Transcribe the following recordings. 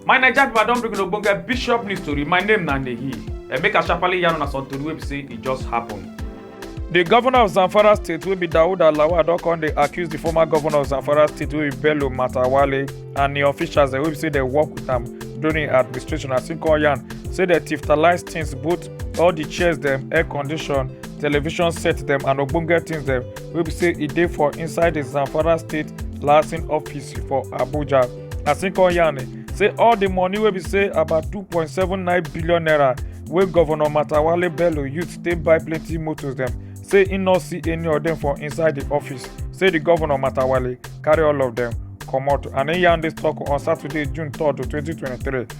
My Naija people, I don bring una ogbonge bishop news story. My name na Nehi. And make I sharply yarn una some tori wey be say e just happen. The governor of Zamfara state wey be Daud Alawa don come dey accuse the former governor of Zamfara state wey be Bello Matawale and the officials dem wey be say dem work with am during im administration as im come yarn say dem tiftalize things both all the chairs dem air condition television set dem and ogbonge things dem wey be say e dey for inside the zamfara state license office for abuja as im come yarn say all the money wey be say about 2.79 billion naira wey governor matawale bello use take buy plenty motos dem say im no see any of dem for inside the office say the governor matawale carry all of dem comot and im yarn dis tok on saturday june 3 2023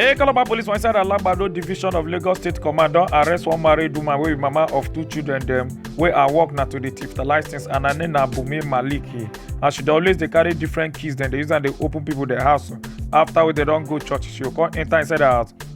A Calabar police for inside Alagbado division of Lagos State Command don arrest one married woman wey be mama of two children dem wey her work na to dey thief license and her name na Bumi Maliki and she dey always dey carry different keys dem dey use am dey open people their house after wey dem don go church she go come enter inside her house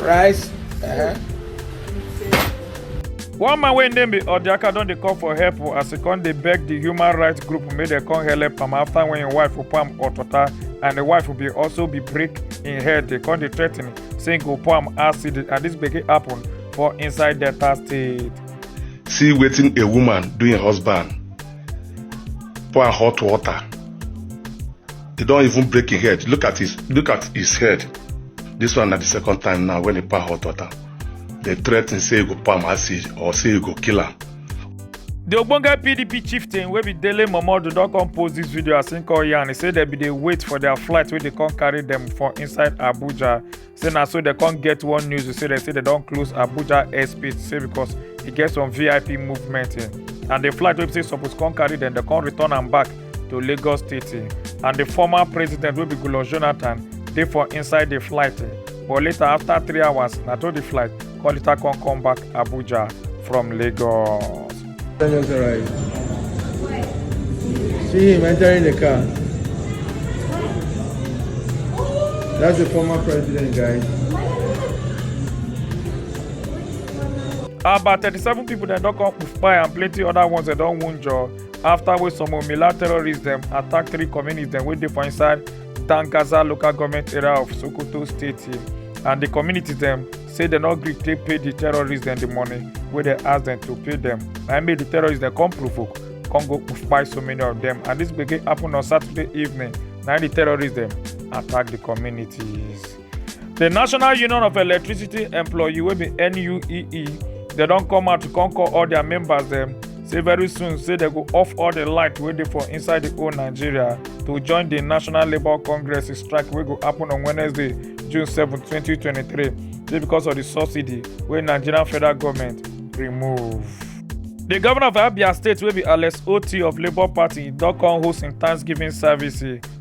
rice uh-huh. one man wey im name be odiaka don dey call for help o as e come dey beg di human rights group make dem come help am afta wen im wife pour am hot water and di wife bin also be break im head dey come dey threaten say im go pour am acid and dis gbege happen for inside delta state. see wetin a woman do im husband pour am hot water He don't even break his head. Look at his look at his head. This one at the second time now when he pa hot water. They threaten say he go palm acid or say he go kill him. The Ogbonge PDP chieftain wey be Dele Momodu don come post this video as him call yarn. He say dem bin dey wait for their flight wey dey come carry them for inside Abuja say na so dem come get one news to say dem say dem don close abuja airspace say because e get some vip movement eh, and the flight wey be say suppose come carry dem dem come return am back to lagos state eh, and the former president wey be goodluck jonathan dey for inside the flight eh, but later after three hours na to the flight Come later come come back Abuja from Lagos. Just arrived. See him entering the car. That's the former president, guys. About 37 people dem don come kpai and plenty other ones dem don wunjure after wey some Omila terrorists dem attack three communities dem wey dey for inside Tangaza local government area of Sokoto state and the community dem say dem no gree take pay the terrorists dem the money wey dem ask dem to pay dem na im make the terrorists dem come provoke come go kpai so many of dem and this gbege happen on saturday evening na im the terrorists dem attack the communities. The National Union of Electricity Employee wey be NUEE dem don come out to come call all their members dem say very soon say dem go off all the light wey dey for inside the whole Nigeria to join the National Labour Congress strike wey go happen on Wednesday, June 7, 2023 say because of the subsidy wey Nigerian federal government remove. The governor of Abia State wey be Alex Oti of Labour Party don come host im Thanksgiving service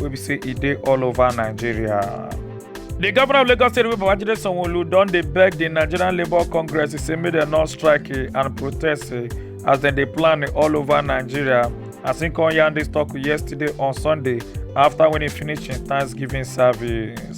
wey be say e dey all over nigeria. di governor of lagos state wey babajide sanwo-olu don dey beg di nigerian labour congress say make dem no strike eh, and protest eh, as dem dey plan eh, all over nigeria as im come yarn dis tok yesterday on sunday afta wen e finish im thanksgiving service.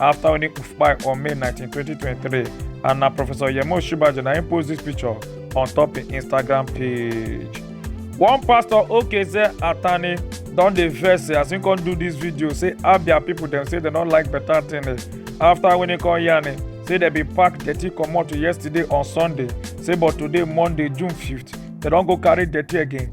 after winning UFPI on May 19, 2023. And now Professor Yemo Shibaji now post this picture on top the Instagram page. One pastor Okeze Atani don dey vex say as him come do this video say Abia people dem say dem no like better thing eh. after winning come yarn eh, say dem bin pack dirty comot yesterday on Sunday say but today Monday June 5th dem don go carry dirty again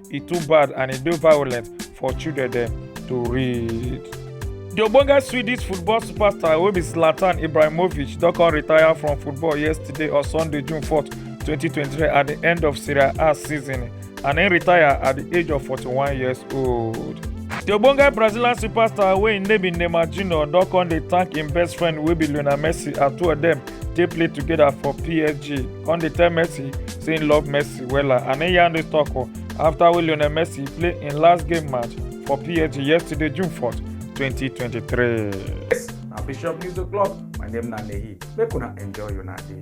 e too bad and e dey violent for children dem to read. di ogbonge swedish football superstar wey be zlatan ibrahimovic don come retire from football yesterday on sunday june 4 2023 at di end of serie a season and im retire at di age of 41 years old. di ogbonge brazilian superstar wey im name be neymar junior don come dey thank im best friend wey be lionel messi and two of dem dey play together for psg come dey tell messi say im love messi wella and im yarn dis tok afta wey lionel messi play im last game match for psg yesterday june 4 2023. Yes, na Bishop News O'Clock. My name na Nehi. Make una enjoy una day.